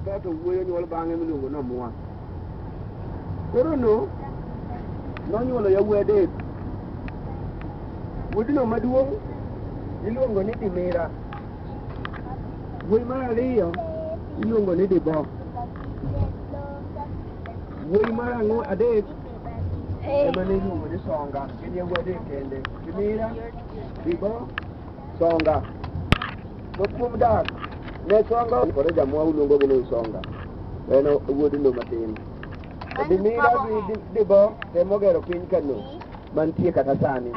Kato wuoyo nyuol bang'e miluongo ni Omwa. Koro no nonyuolo yawuoyi adek. Wuodino maduong' iluongo ni Dimira. Wuoyi mar ariyo iluongo ni Dibo. Wuoyi mar ang'o adek ema ne iluongo ni Songa. Gin yawuoyi adek kende. Dimira, Dibo, Songa. To kuom dak, ne Songa kore jamwa uluongo gi ni Songa. En wuod lo matin. To Dimira gi Di- Dibo temo gero piny Kano mantie kata sani.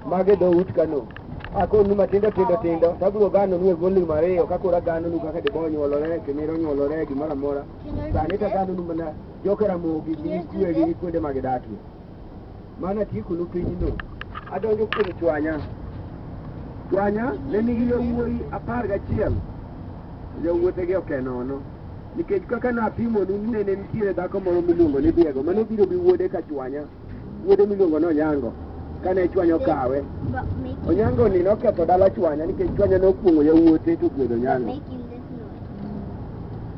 Mage dho ut Kano. Akonu matindo tindo tindo, tabro gano nu e volume ariyo, kakura gano nu kaka Dibo onyuolore, Kimira onyuolore, gimoro amora. Sani tagano nu mana joka Ramogi gi kwegi gi kuonde ma gidakie. mana kikulu pinyno adonjo kuom chwanya chwanya ne nigi yawuoyi apar gachiel jawuotegi oke nono nikech kaka napimonu ni ne nitiere dhako moro miluongo ni diego mane obiro gi wuode ka chwanya wuode miluongo ni onyango kane chwanya okawe onyango ni noketho dala chwanya nikech chwanya nokuong'o yawuote to ogwedho onyango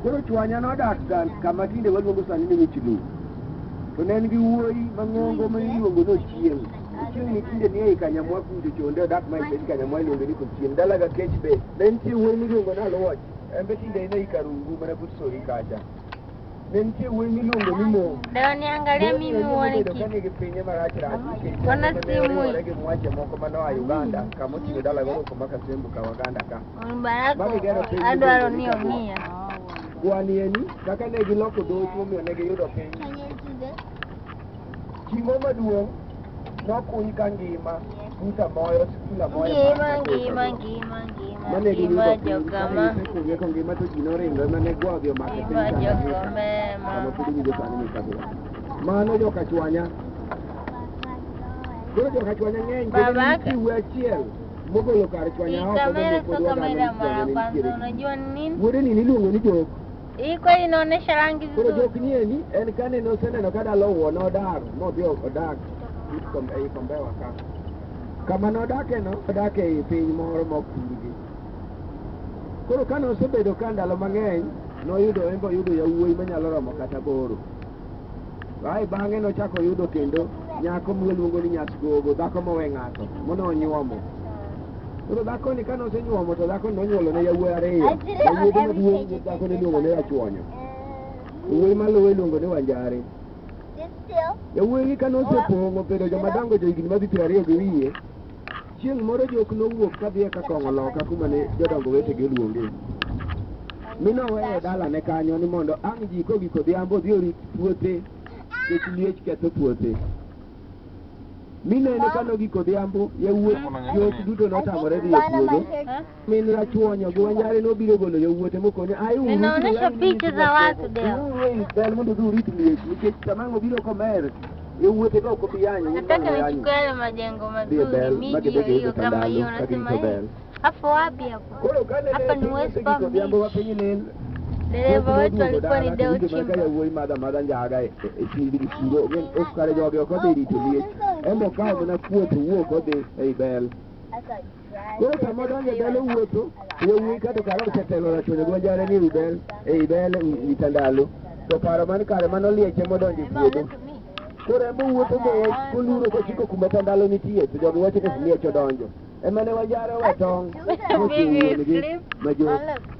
Koro chwanya nodak gan kama tinde waluongo sani ni Michilu. To ne en gi wuoyi mang'ongo ma iluongo ni Ochieng'. Ochieng' ni tinde ni ei Kanyamwa kucho chonde odak ma ei Kanyamwa iluongo ni Kochieng'. Dala ga kech be. Ne nitie wuoyi miluongo ni Aluoch. En be tinde en ei Karungu mana but Sori kacha. Ne nitie wuoyi miluongo ni Mo. Leo niangalia mimi uone kitu. Kani gi pinye marach rach. Ona simu. Gi mwache moko manoa Uganda kama oting'o dala goro kama Kasembu ka Waganda ka. Barako adwaro ni omiya. Kwanieni kaka ne giloko dhout momiyo ne giyudo piny. Chimo maduong' nokuny ka ngima buta moyo sikula moyo. Ngima ngima ngima ngima. Mane ngima jokama. Kuonge ka ngima to ji noringo ema ne gwa odhi omako piny. Ngima jokama ema. Kama podi winjo sani ni kabila. Mano joka chwanya. Koro joka chwanya ng'eny. Baba. Koro achiel. Mogolo kar chwanya oko Kamera so kamera mara kwanza, unajua ni nini? Wuode ni niluongo ni jok. Hii kweli inaonesha rangi Koro vizuri. jok ni endi en kane noseneno ka dala owuo nodar modhi odak but kom- ei kombewa ka. Kama nodakeno odak ei piny moro mok purgi. Koro kane osebedo ka ndalo mang'eny noyudo en be oyudo yawuoyi manyalo romo kata boro. Ae bang'e nochako oyudo kendo nyako miluongo ni Nyasgogo, dhako mowe ng'ato, mono onyuomo. Koro dhakoni kane osenyuomo to dhakoni nonyuolo ne yawuoyi ariyo. Yawuoyi maduong' gi dhakoni iluongo ni Achwonyo. Yawuoyi maluwe iluongo ni Wanjare. Yawuoyi kane osepong'o bedo joma dongo jo higni madhi piero ariyo gi wiye, Chieng' moro jok nowuok ka dhi e ka kong'o loka kuma ne jodongo wetegi oluonge. Mi noweyo e dalane kanyo ni mondo ang' ji kogik odhiambo odhi orit puothe nikech liech ketho puothe. Mi nene ka nogik odhiambo, yawuot jok duto notamore dhi e puodho. Min Rachuonyo gi Wanjare nobiro golo yawuote mokone ae uru Ninaonyesha picha za watu leo. uru ei bel mondo udhi urit liech nikech sama ang' obiro komer yawuote ka ok obi yanyo Nataka nichukue yale majengo mazuri, miji ya hiyo kama hiyo, unasema eh, hapo wapi hapo? Koro kane Hapa ni West Palm Beach. odhiambo wa piny lil Dereva wetu alikuwa ni Deo Chimba. yawuoyi madha madha njaga e chimbi gi chiro onge ok kare jogi ok odhi rito liech en be okawo mana kuot owuok odhi ei bel Koro sama donjo dala wuotho, yawuoyi kato kare osetelo rachone gwajare ni udel, e idel ita ndalo. To paro man kare mano lieche modonjo e puodho. Koro ema owuotho mos koluro kochiko kuma ta ndalo nitie, to jogi wacho ni liech odonjo. Ema ne wajare we tong' mochung' wuon-gi ma jo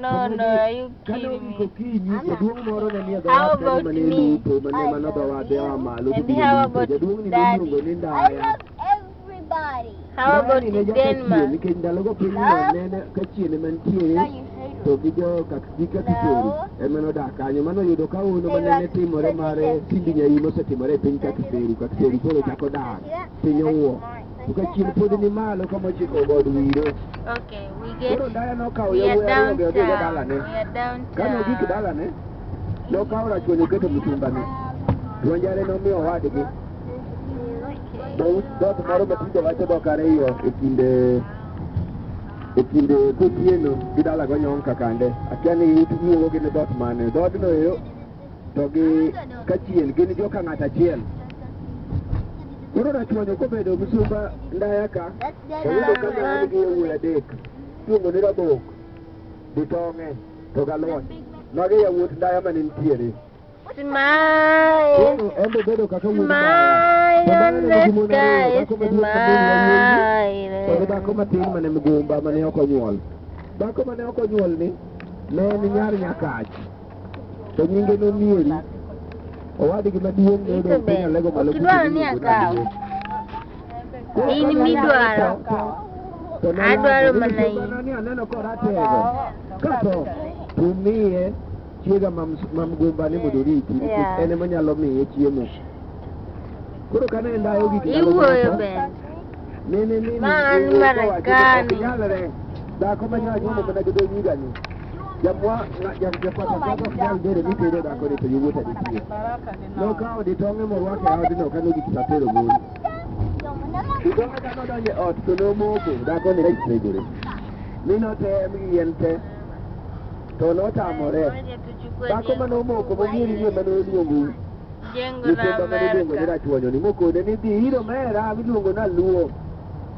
No, no, are you Kane kidding me? ogik okinyi, jaduong' moro ne nie How dhowath kanyo about mane me? lupo, mane mana dhowath ea malo And todhi how lupo. about Jaduong'ni daddy? noluongo ni I Ndaya. love everybody. How Ndaya about ni ne in nyaka chieng', Denmark? nikech ndalogo piny Love. nene ka chieng' ema nitie Now you hate to gi jo kakika kitori No. ema nodak kanyo mano yudo ka hono Hey, manene Rak, timore take mar it easy. tindi nyaiyi mosetimore e piny kakiseru kakiseru koro chako dar See that? piny That's owuo mine. Ukachien pod ni malo kama ochiko god wiro. Okay, we get Koro ndaya nokawo we are yawuoyi down ariyo odhi town. dalane. We are down Kane ogik town. dalane, nokawo rachuonyo oketo mitumbane. Dwonjare nomiyo owadgi. Dhout dhot moro matindo wacho dhok ariyo e kinde e kinde kotieno gi dalago nyonka kande. Akia ni iwuogo gi ni dhot mane. Dhoodno ero to gi kachien gin joka ng'ato achiel koro rachwanyo kobedo msumba ndaya ka oyudo ka an gi yawuoyi adek iluongo ni rabok gi tong'e to galwon magi yawuot ndaya mane nitiere Smile, koro en be bedo kaka wuod smile ndaya. on the Mama sky, aneno gimoro ariyo, kod smile. dhako matin mane mgumba mane ok onyuol dhako mane ok onyuol ni ne en nyar nyakach to nyinge nomieri owadgi maduong' noyudo penyo lego malo Kidwaro ni akaw. In midwaro. Adwaro mana in. ni aneno koratego kato tumiye chiega mam- mamgumba ni mondo oriti nikech Yeah. en ema nyalo miye chiemo koro kane ndayo gik ndalo Iwuoyo moko, bende. Man Marekani. Dhako ma nyalo nyuomo mana gi dho nyiga ni. Japwa japata dhako ok nyal dere ni tere dhako ni to yowuot adi piyo. Nokawo ditong'e morwako e odno ka nodhi tich atero mon. Ditong'e ka nodonjo e ot to nomoko dhako ni rech segore. Mi notem gi yien te to notamore. Dhako ma nomoko manyiri ni ema noluongo Jengo la Nyithindo mane iluongo ni Amerka. Rachuonyo ni mokone ni dhi ir omera miluongo ni Aluo.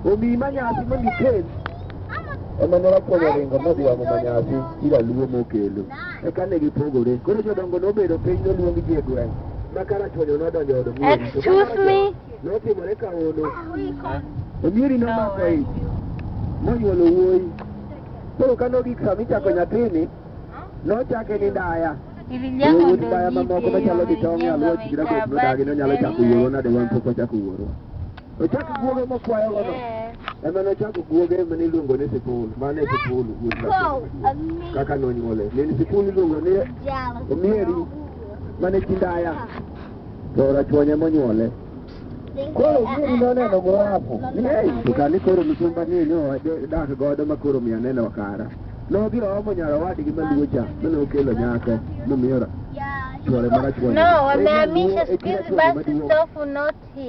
Omiyi manyasi mondo ikel. Ema ne Rachuonyo oringo modhi omo manyasi ir Aluo mokelo. Eka ne gipogore. Koro jodongo nobedo piny noluong ji e gweng'. Ma ka Rachuonyo nodonjo e od Omieri. to ka Excuse Rachuonyo me. Notimore ka hono. Omieri nomako ich. Monyuolo wuoyi. Koro ka nogik sama ichako nyathini, Nochake ni ndaya. Ilijango Wuod ndaya mamoko ndogite machalo gi tong' e alwora chikira kod nodagi ni onyalo chako wuoro nade wan pok ochako wuoro. Ochako guoge mokwayo gono. Ema nochako guoge mane iluongo ni sipul. Mane sipul wuod ndaya. Kaka nonyuole. Ne ni sipul iluongo ni Omieri. Mane chi ndaya. To rachuonye monyuole. Koro gini noneno gorapo. To kani koro misumba ni ne odak godo ma koro miya neno kara. Nodhi oomo nyar owadgi maluwo cha mane okelo nyako momiyo chwore marachwani. No, wamehamisha siku hizi basi stofu not here.